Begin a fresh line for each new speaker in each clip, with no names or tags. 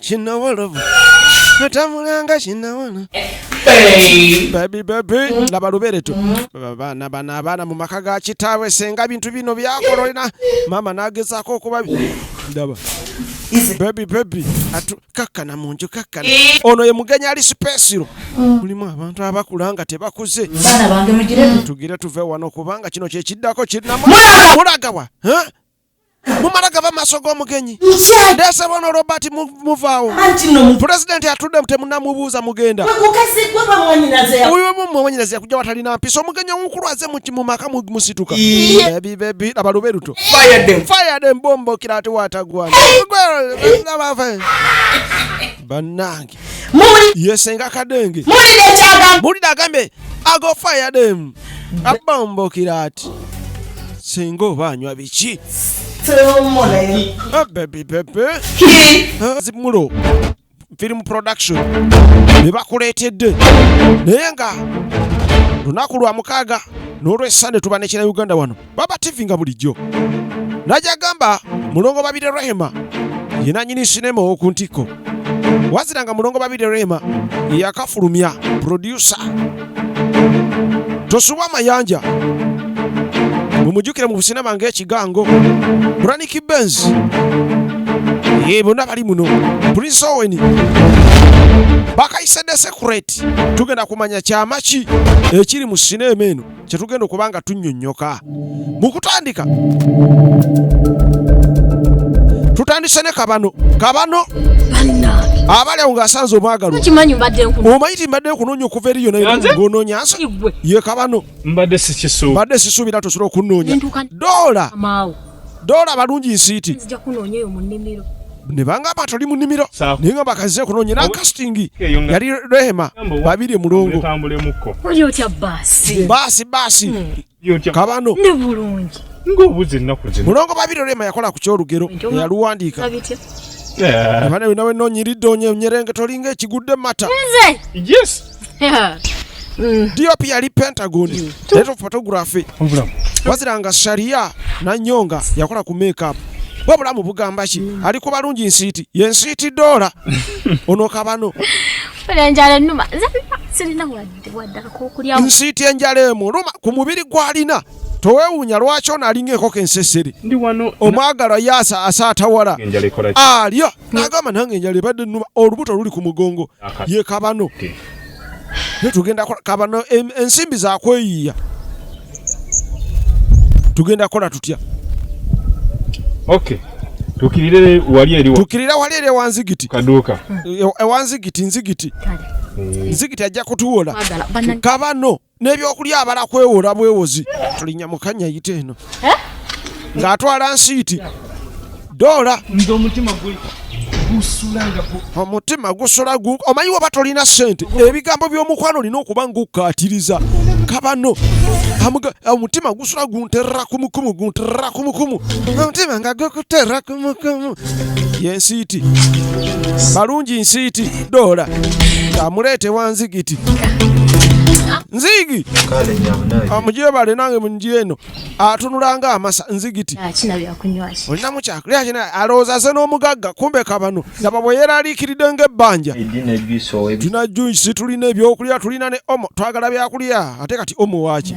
kinawolovu atamulanga kinawolo babi babi laba lubereto baana bano abaana mu maka ga kitaabwe senga bintu bino byakololena maama nagezaako okuba ndaba bebi bebi kakkana mu nju kakkana eh. ono ye mugenyi ali sipesiro mm. mulimu abantu abakula nga tebakuze
tugire tuve wano
kubanga kino kyekiddako kirinamu mulagawa mumala gava maaso g'omugenyi ndeese bona robert muvaawo pulezidenti atudde temunamubuuza mugenda uyo mumwanyinazi yakuja watalina mpisa omugenyi omukulu aze mu maka musituka bebibebi laba lube luto fayade mbombokira ate watagwana banange yesenga kadenge mulira agambe ago fire them abombokira ati singa oba anywa biki ah, bebi bebe ah, zimulo film production bebakuleetedde naye nga lunaku lwa mukaaga n'olwesande tuba nekira uganda wano baba tv nga bulijjo najagamba mulongo babire rehema yenanyini sinema owoku ntikko wazira nga mulongo babire rehema yakafulumya produsa tosubwa amayanja mumujukire mu busina bange ekigango braniki benz ye bonna bali muno prince owen bakayise desekurate tugenda kumanya kyama ki ekiri mu sinema eno kye tugenda okuba nga tunnyonnyoka mu kutandika tutandise ne kabano kabano abalewo ng'asanze omwagaloomanyi ti mbadde nkunoonya okuva eri yonangononya nsi ye kabano mbadde sisuubira tosobola okunnoonya doola Dola balungi nsiiti. Nzija kunoonya eyo mu nnimiro. ne bangamba toli mu nnimiro naye nga bakaze okunoonya na castingi yali rehema babiri mulongo baasi baasi hmm. kabano mulongo babiri rehema yakola ku kyolugero yaluwandiika eh. nawe noonyiridde onyerenga tolinga ekigudde mata yes Mm. DOP yali Pentagon mm. head of photography waziranga sharia na nyonga yakola ku makeup bwe bulamu bugamba ki mm. ali ku balungi nsiiti ye nsiiti dola ono kabano nsiiti enjala emu luma ku mubiri gwalina towewunya lwaki ono alinga enkoko ensesere omwagalwa ye asaatawala alyo nagamba nange enjala ebadde numa olubuto luli ku mugongo ye kabano netugenda kola kabano ensimbi zakweyiiya tugenda kola tutya
tukirire wali eri tukirira wali eri ewanzigiti kaduuka
ewanzigiti nzigiti nzigiti ajja kutuwola kabano n'ebyokulya abala kwewola bwewozi tulinya mukanya yite eno eh? ng'atwala nsiiti doola omutima gusula omanyi waba tolina sente ebigambo by'omukwano olina okuba ngaokkaatiriza kabano omutima gusula gunterera kumukumu gunterera kumukumu omutima nga gukuterera yensiiti balungi nsiiti doola amuleete wa nzigiti nzigi amujebale nange munjira eno atunulanga amasa nzigiti olinamu kyakulya alowooza ze n'omugagga kumbe kabano laba bwe yeraliikiridde ng'ebbanja tulina juisi tulina ebyokulya tulina ne omo twagala byakulya ate kati omo waaki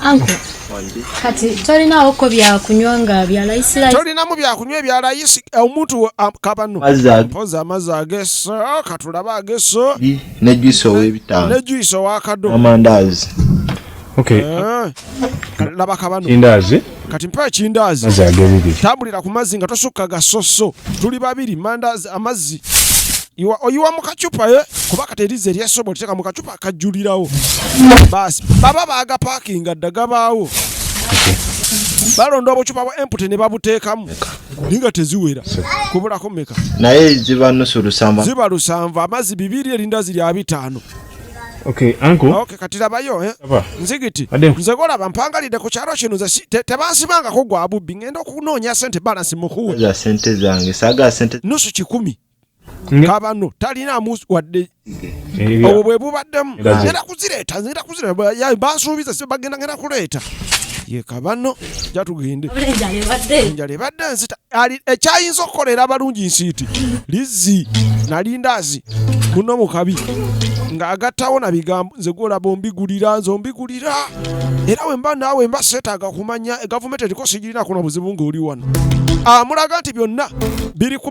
Anko, kati tolinawo ko byakunywa nga bya
layisi layisi? Tolinamu byakunywa ebya layisi eh, omuntu kabano. Mpoza amazzi ageso, katulabe ageso.
Ne
juice ow'ebitaano. Ne juice
ow'akado.
Amandaazi.
Okay. Eh,
laba kabano. Kindaazi. Kati
mpa ekindaazi.
Mazzi ag'ebibiri.
Tambulira ku mazzi nga
tosukka gasoso. Tuli babiri, mandaazi, amazzi. Iwa, oyiwa mu kacupa ye, eh? kuba kati erizzi eryasobola teeka mu kacupa. akajulirawo baasi baba baagapaakinga dda gabaawo balonda obucupa bwa empute ne babuteekamu naye nga teziwera kubulako meka naye ziba
nusu lusanvu ziba lusanvu amazzi
bibiri erinda ziri abitaano Okay,
uncle. Ah, okay, kati labayo eh.
Aba. Nzigiti. Ade. Nze gola bampangalide ku kyaro kino ze te, tebansibanga ko gwa bubbi ngenda okunoonya sente balance mukuwe. Za sente zange
saga sente. Nusu kikumi.
kabano talina musu wadde obwo bwe bubaddemu ngenda kuzireeta ngenda kuzireeta bansuubiza si bagenda ngenda kuleeta ye kabano jatugende enjala ebadde nzita ekyayinza okukolera abalungi nsiiti lizzi nalindaazi muno mukabi ng'agattawo na bigambo nze gwolaba ombigulira nze ombigulira era wemba naawe mba seetaaga kumanya gavumenti eriko sigirina kuno buzibu ng'oli wano amulaga ah, nti byonna biri ku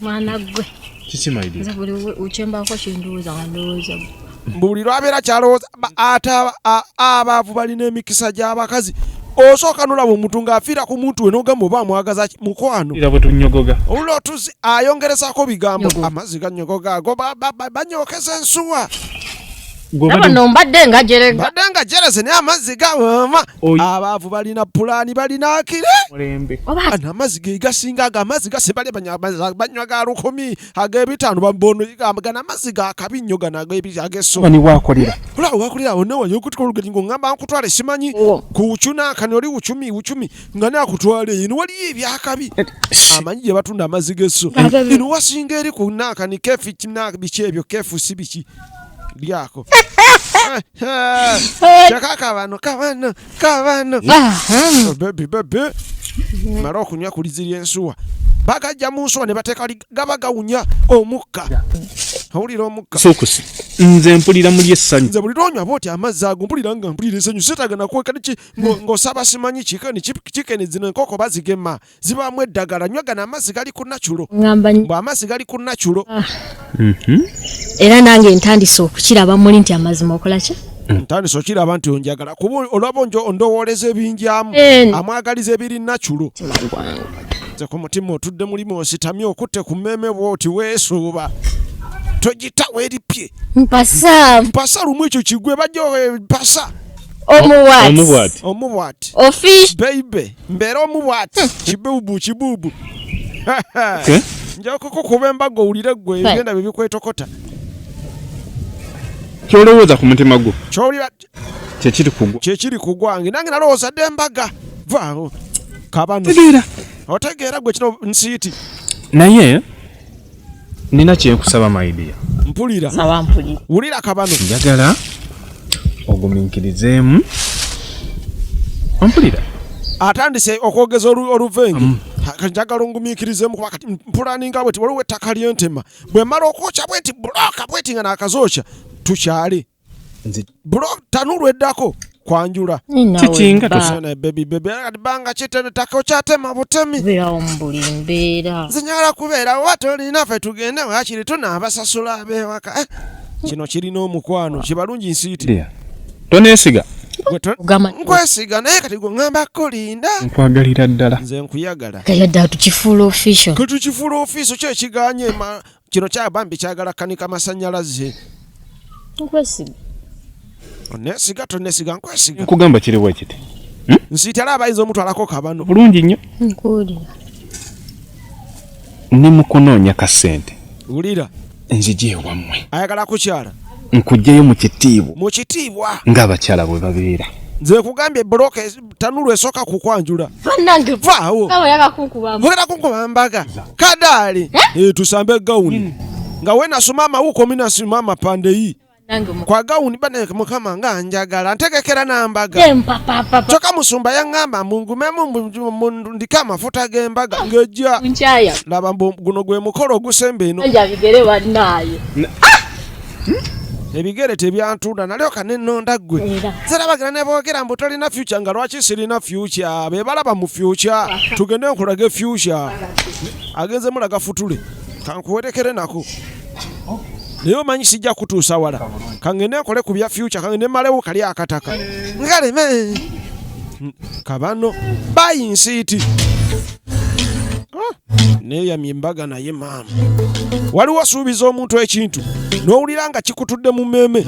mwana gwe kiki maidi nze
buli ukyembaako
kindowooza nga ndowooza gwe mbu buli lwabeera
kyalowooza ate abaavu balina emikisa gy'abakazi osooka nolaba omuntu ng'afiira ku muntu we n'ogamba oba amwagaza mukwano era bwe tunyogoga
olula otuzi
ayongerezako bigambo amazzi ganyogoga ago banyokeza ensuwa no
mbadde nga jerega mbadde nga jereze naye
amazzi gawama abaavu balina pulaani balina akire
ana amazzi ge
gasinga ago amazzi gasibale banywa ga lukumi ag'ebitaano gana amazzi ga kabi nnyo gano ag'ebiagesoowakolera
wakolera awo
nawe yokutika olugeri ng'oŋŋamba nkutwale simanyi kuwucuna akani oli wucumi wucumi nga naakutwala eyo no waliyo ebyakabi eh, amanyi gye batunda amazzi g'esso ino wasinga eri ku naakani kefu biki ebyo kefu si biki lyako kyaka kabano kabano kabano oh, bebi bebi mala okunywa kulizirya ensuwa bagajja mu nsuwa ne bateeka gaba gawunya omukka awulira omukka sokusi nze
mpulira muli essanyu nze buli lwonywa bwoti
amazzi ago mpulira nga mpulira essanyu setaga nakweka niki ng'osaba simanyi kikani kikenezina enkoko bazigema zibaamu eddagala nywa gano amazzi gali ku naculo mbu amazzi gali ku naculo ah. mhm.
era nange ntandise okukiraba muli nti amazima okola ki mm. ntandise okiraba
nti onjagala kuba olwaba ondowooleza ebinjamu eh. amwagaliza ebiri naculo nze ku mutima otudde mulimu ositamye okutte ku mmeeme bwoti weesuuba togitawo eripye mpasa mpasa lumu ekyo kigwe bajja mpasa omuwat omuwat ofish beibe
mbeere
omu bwati kibubu kibubu nja kukukuba embaga owulire gwe ebyenda bye bikwetokota
kyolowooza ku mutima gwo kyekiri
kugwa kyekiri kugwange nange nalowooza dde embaga vaawo kabano otegeera gwe kino nsiiti naye
Nina kyenkusaba my dear. Mpulira. Saba
mpulira.
Wulira kabano. Njagala
oguminkirizeemu. Mpulira. Atandise
okwogeza oluvengi. Mm. Njagala ongumiikirizeemu kuba kati mpulaninga bweti waliwo ettaka lyentema bwe mala okwokya bweti bulooka bweti nga naakazookya tukyale bro tanulu eddako kwanjula kikinga
tosana baby baby
ali banga kitene tako kyatema butemi bya ombuli
mbeera zinyala kubeera
watu oli nafe tugende wakiri tuna abasasula abewaka eh, kino kirina omukwano kibalungi nsiiti tonesiga nkwesiga naye kati gwe ngamba kulinda nkwagalira ddala
nze nkuyagala
kayadde atukifuula
official katukifuula official
kyo ekiganye Kino kya bambi kyagala kanika masanyalaze.
Nkwesiga.
Onesiga tonesiga nkwesiga. Nkugamba kiri bwe kiti.
Hmm? Nsitala abayinza
omutwalako kabano. Bulungi nnyo.
Nkuwulira. Ni mu kunoonya ka ssente. Wulira.
Nzije ewammwe.
Ayagala kukyala.
Nkugyeyo mu
kitiibwa. Mu kitiibwa.
Ng'abakyala bwe
babeera. Nze nkugambye
bbulooka tanulu esoka kukwanjula banange vaawo oyagala
kunkuba mbaga
kadaali eh? eh, tusambe gawuni hmm. nga wenasoma amawuko minasima amapande yi kwa gawuni bane mukama nga njagala ntegekera nambaga kyoka musumba yaŋŋamba mungumemu ndike amafuta g'embaga ah, ngejja laba guno gwe mukolo ogusemba eno ebigere tebyantunda nalyoka nenonda gwe zerabagira nebogera mbu tolina fyuca nga lwaki sirina fyuca bebalaba mu fyuca tugende nkulage fyuca agenze mulaga futule kankuwerekere nako naye omanyi sijja kutuusa wala kangende nkole ku bya fyuca kangende malewo kali akataka ngaleme kabano bayinsiiti ah. neyamye embaga naye maama waliwo asuubiza omuntu ekintu n'owulira nga kikutudde mu mmeeme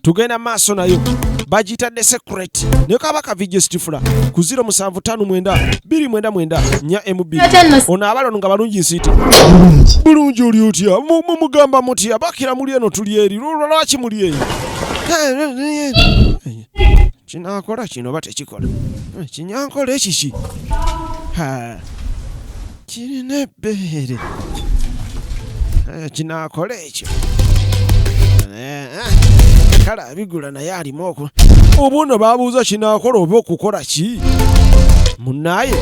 tugenda maaso nayo bagitadde secret ne kaba ka video stifula ku 0759 mb ono abalo nga balungi nsiti bulungi oli otya mugamba mutya bakira muli eno tuli eri lwaki muli eyo Kinaakola kino oba tekikola? Eh, kinyankola ekiki? Kirina ebbeere. Eh, kinaakola ekyo. Eh, kale abigula naye alimu oku obuno babuuza kinaakola oba okukola ki munaye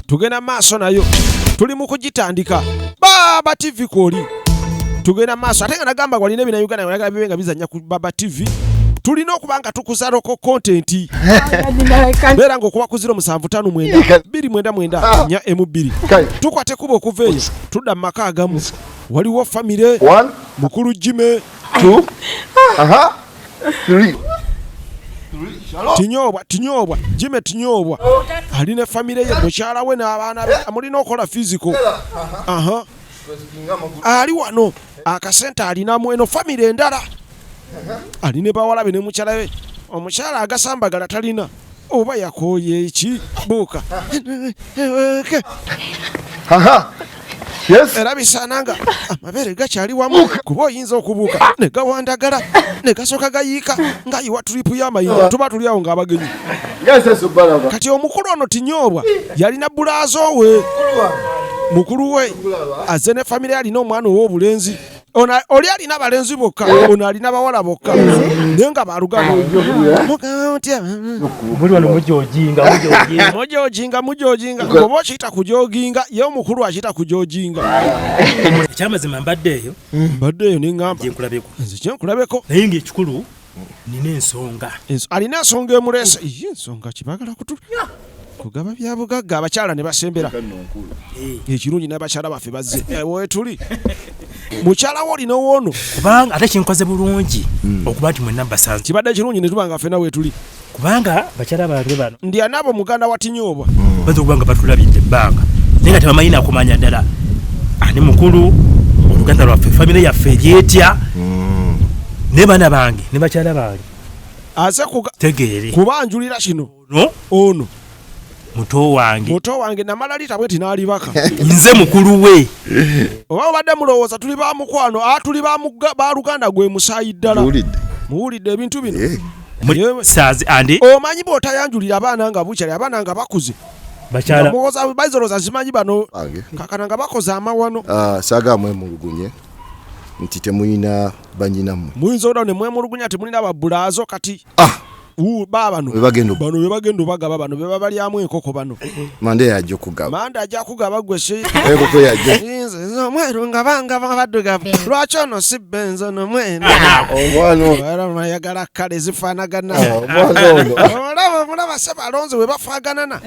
tugenda maaso nayo tuli mu kugitandika baaba tivi kwoli tugenda maaso ate nga nagamba walina ebina uganda yagala bibe nga bizanya ku baba tv tulina okuba nga tukuza loko kontenti beera nga okuba kuziro musanvu tano mwenda biri mwenda mwenda ah. nya emu bbiri tukwate kuba okuva eyo tudda mu maka agamu waliwo famire mukulu jime tinyobwa tinyobwa jime tinyobwa ali ne famire ye mukyala we n'abaana be mulina okukola fiziko aha ali wano akasente alina mweno famire endala ali ne bawala be ne mukyala we omukyala agasambagala talina oba yakooye eki buuka era bisaana nga amabeere gakyali wamu kuba oyinza okubuuka ne gawandagala ne gasooka gayiika ng'ayiwa turipu y'amayinja tuba tuli awo ng'abagenyi kati omukulu ono tinyoobwa yalina bulaazo we mukulu we azze ne famire alina omwana ow'obulenzi oli alina abalenzi bokka ono alina bawala bokka naye nga balugama mujojinga mujojinga oba okiyita kujoginga ye omukulu akiyita kujoginga
ekyamazima mbadde eyo mbadde eyo neŋamba
nze kyenkulabeko naye ngaekikulu
nina ensonga alina ensonga
emuleese ye ensonga kibagala kutu kugaba byabugagga abakyala ne basembera eh. ekirungi n'abakyala baffe bazze eh, wetuli mukyala wo olina owoono kubanga ate kinkoze
bulungi hmm. okuba nti mwenna mbasanze kibadde kirungi ne tuba nga
fena wetuli kubanga bakyala
bange bano ndi anaabo muganda wa
tinyuubwa mm. baza okuba nga batulabidde
ebbanga naye nga tebamanyi nakumanya ddala ani mukulu oluganda lwaffe famire yaffe eryetya mm. ne baana bange ne bakyala bange aze
tegeere
kubanjulira kino
ono muto wange muto wange namala lita bweti n'alibaka nze mukulu
we oba obadde
mulowooza tuli ba mukwano a ah, tuli ba luganda gwe musaayi ddala muwulidde ebintu bino eh. omanyi bw'otayanjulira abaana nga bukyali abaana nga bakuze baizoloza zimanyi bano kakana nga bakoze amawano ah, saga mwemulugunye
nti temulina banyinamwe muyinza oda ne mwemulugunya
temulina babulaazo kati ah. babano
bebagenda obagaba bano
bebabalyamu enkoko bano manda yaja okugaba
manda aja kugaba gwe
enkoko
yajainze omweru nga
banga baddugavu lwaki ono si benzi ono mwenu ayagala kale zifanagana ah, omulaba omulaba se balonzi webafaganana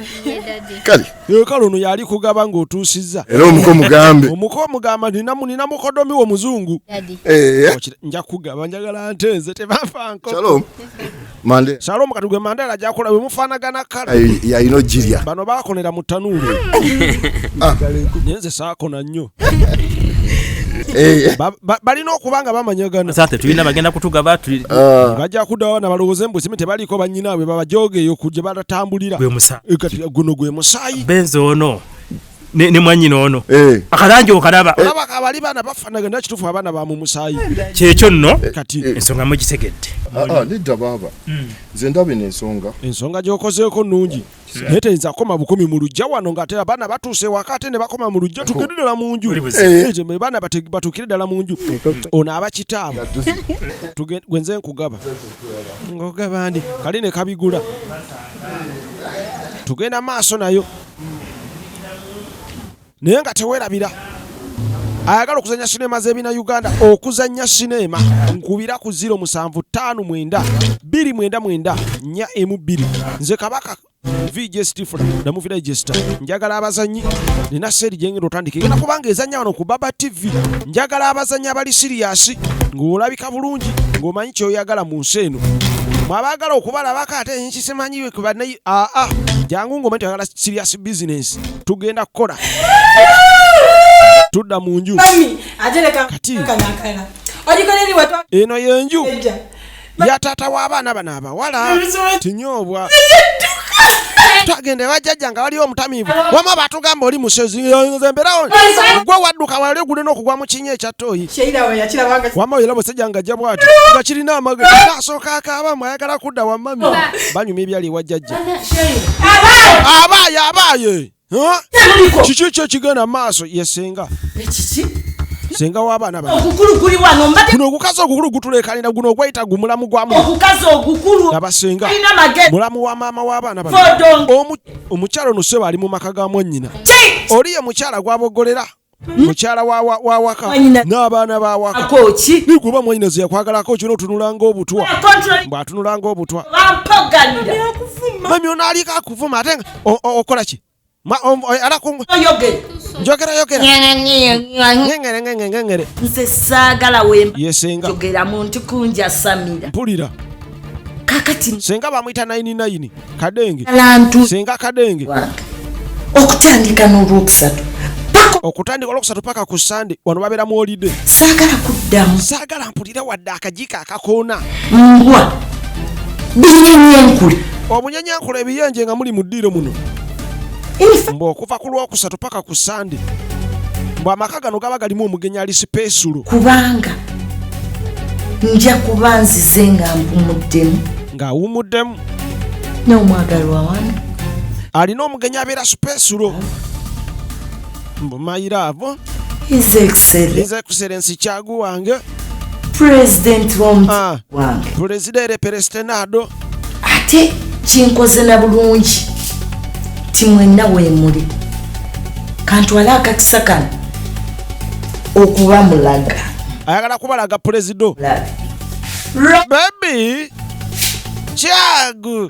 kale Eh, kale ono yali kugaba ng'otuusizza era omuko mugambe
omuko omugamba
nina mukodomi wo muzungu eh. nja kugaba njagala nte nze tebafanko
salomu kati gwe mandala
gyakola we mufaanagana kale yalina ojirya
bano bakonera mu
tanuulu ah. naye nze saakona nnyo Eh. balina okuba nga bamanyagana sate tulina bagenda
kutugaba ah. bajja
kudawo na balowooze mbu simu tebaliiko banyinaabwe babajoogeeyo ku gye balatambulira eh, guno gwe musaayi
benzi
ono
ne, ne mwanyina ono eh. akalangi okalaba eh. olaba abali baana
bafanaga naye kituufu abaana ba mu musaayi kyekyo nno
eh, kati eh. ensonga
mugisegedde
ah, ah, nedda baaba
hmm. nze mm. ndaba eno ensonga ensonga gyokozeeko nnungi
naye teyinza kukoma bukumi mu lujja wano nga ate abaana batuuse ewaka ate ne bakoma mu lujja tugende ddala mu nju baana batuukire ddala mu nju ono aba kitaabwe gwe nze nkugaba ngogaba ndi kali ne kabigula tugenda maaso nayo naye nga tewerabira ayagala okuzanya sinema z'ebina uganda okuzanya sinema nkubira ku 07599294 emu bbiri nze kabaka vj stifula namuvira ejesta njagala abazanyi nina seeri gyengenda otandika egenda kubanga ezanya wano ku baba tv njagala abazanyi abali siriyasi ng'olabika bulungi ng'omanyi kyoyagala mu nsi eno mwabaagala okubalabako ate nkisimanyi kubanaye aa jangu ng'omanyi toyagala siriyasi bizinesi tugenda kukola tudda mu nju kati eno yenju ya taata w'abaana bano abawala tinyoobwa twagenda ewajjajja nga waliwo omutamiivu wama batugamba oli musezi nzemberawo gwe wadduka wali ogule n'okugwa mu kinya ekyattooyi wama era musajja nga jja bwati nga kirina amagezi asooka akaaba mwayagala kudda wama banyumya ebyali ewa jjajja abaaye abaaye kiki kyo kigenda maaso ye senga senga w'abaana bakuno ogukazi ogukulu gutulekanira guno ogwayita gu mulamu gwamuabasenga mulamu wa maama w'abaana bano omukyalo ono sebo ali mu maka ga mwannyina oli ye mukyala gwabogolera mukyala wawaka n'abaana bawakakoki nikuba mwanyinaze yakwagalako kino otunulanga obutwa mbwatunulanga obutwa mami ono aliko akuvuma ate nga okola ki njogerayogerangere
nze saagala wemba yesengagera
muntu
kunjasamira mpulira
kakati
senga bamwita 99
kadenge lantu senga kadenge
okutandika n'olwokusatu okutandika
olwokusatu paka ku sande wano babeera mu olide saagala kuddamu saagala mpulire wadde akajika akakoona mbwa
binyenyenkule omunyenyenkule ebiyenje
nga muli mu ddiiro muno mbu okuva ku lwokusatu paka ku sande mbu amaka gano gaba galimu omugenyi ali sipeesulo kubanga
nja kuba nzize nga mpumuddemu nga awumuddemu n'omwagalwa wange alina
omugenyi abeera supesulo mbu mayiraavo his
excellence his excellence
kyagu wange president
w'omutima Ah. wange pulezida ere
perestenado ate
kinkoze na bulungi ti mwenna weemuli kantwale akakisa kano okuba mulaga ayagala kubalaga
pulezido bebi kyagu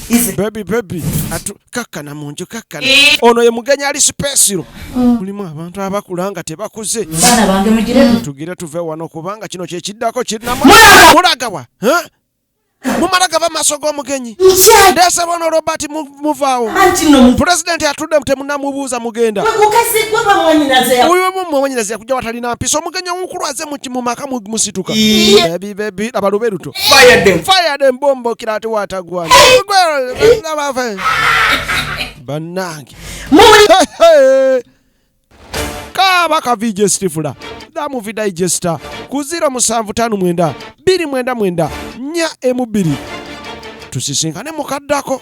bebi bebi atu kakkana mu nju kakkana ono ye mugenyi ali sipesiro mm. mulimu abantu abakula nga tebakuze tugire tuve wano kubanga kino kyekiddako kirinamulagawa mumala gaba maaso g'omugenyi ndeese bona robert muvaawo pulezidenti atudde temunamubuuza mugenda uyo mumwanyinazi yakuja watalina mpisa omugenyi omukulu aze mu maka musituka bebi bebi abaluberuto Fire them. Fire them bombo kila ati watagwa. Banange. Muli. Kaba ka VJ Stifula. Da movie digester. Kuzira musanvu tanu mwenda. Biri mwenda mwenda. Nya emu biri. Tusisinkane mukaddako.